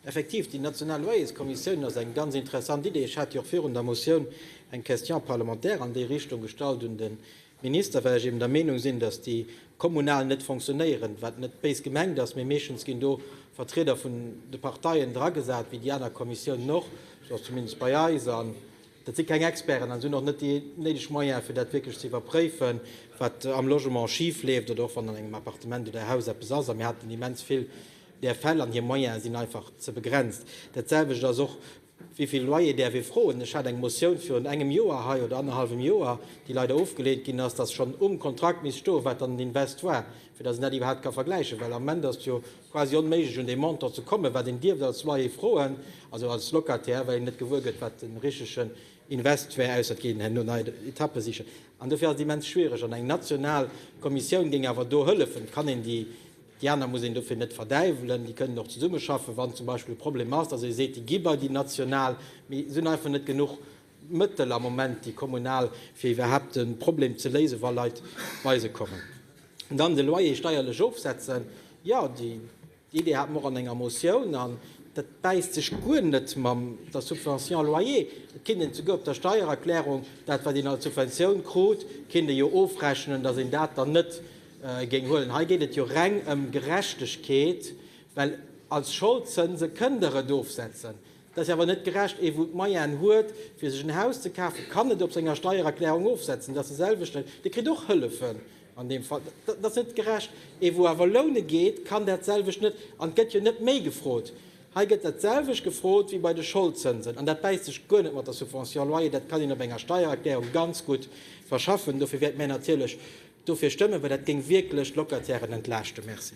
Effektiv, déi national Loyerskommissioun ass eng ganz interessant Idee. Ech hat jo och virun der Motioun eng Question parlementaire an déi Richtung gestallt un de Minister, well ech eben der Meenung sinn, dass déi kommunal net fonctionnéieren, wat net béis gemengt ass, mee meeschtens ginn do Vertrieder vun de Parteien dragesat, wéi déi aner Kommissiounen och, sou ass zumindest bei eis, an dat si keng Experten an si hunn och net déi néideg Moyene fir dat wierklech ze iwwerpréifen, wat am Logement schifleeft oder och wann an engem Appartement oder Haus eppes ass. A mir haten immens vill Där Fäll an hir Moyene sinn einfach ze begrenzt. Dat selwecht ass och, Wéi vill Loyer däerf ee froen? Ech hat eng Motioun virun engem Joer hei, oder annerhallwem Joer, déi leider ofgeleent ginn ass, dass schonn um Kontrakt misst stoen, wat dann den Invest war, fir dass een dat iwwerhaapt ka vergläichen. Well am Moment ass et jo quasi onméiglech, un dee Montant ze kommen, wat een dierft als Loyer froen, also als Locataire, well een net gewuer gëtt, wat de richtige Invest wär, ausser et geet een herno nei Etappe sichen. An dofir ass et immens schwiereg. An eng national Kommissioun géing awer do hëllefen. Kann een déi Déi aner muss een dofir net verdäiwelen, déi kënnen och zesummeschaffen, wann zum Beispill e Problem ass, datt ee seet, déi gi bei déi national. Mee et sinn einfach net genuch Mëttel am Moment, déi kommunal, fir iwwerhaapt de Problem ze léisen, wa Leit bei se kommen. An dann de Loyer steierlech ofsetzen. Jo, déi Idee hate mer och an enger Motioun. An dat bäisst sech guer net mam der Subvention loyer. Et kinnt een souguer op der Steiererklärung dat, wat een als Subventioun krut, kinnt ee jo ofrechnen, datt een dat dann net Géing huelen. Hei geet et jo reng ëm Gerechtegkeet, well als Scholdzënse kënnt Der et ofsetzen. Dat ass jo awer net gerecht. Ee wou d'Moyene huet fir sech en Haus ze kafen, kann et op senger Steiererklärung ofsetzen. Dat ass de selwechten, dee kritt och Hëllefen an deem Fall. Dat ass net gerecht. Ee wou awer loune geet, kann dat selwecht net. An et gëtt jo net méi gefrot. Hei gëtt dat selwecht gefrot wéi bei de Scholdzënsen, an dat bäisst sech guer net mat der Subvention loyer. Dat kann een op enger Steiererklärung ganz gutt verschaffen. Dofir wäerte mär natierlech dofir stëmmen, well dat géing wierklech d'Locatairen entlaaschten. Merci.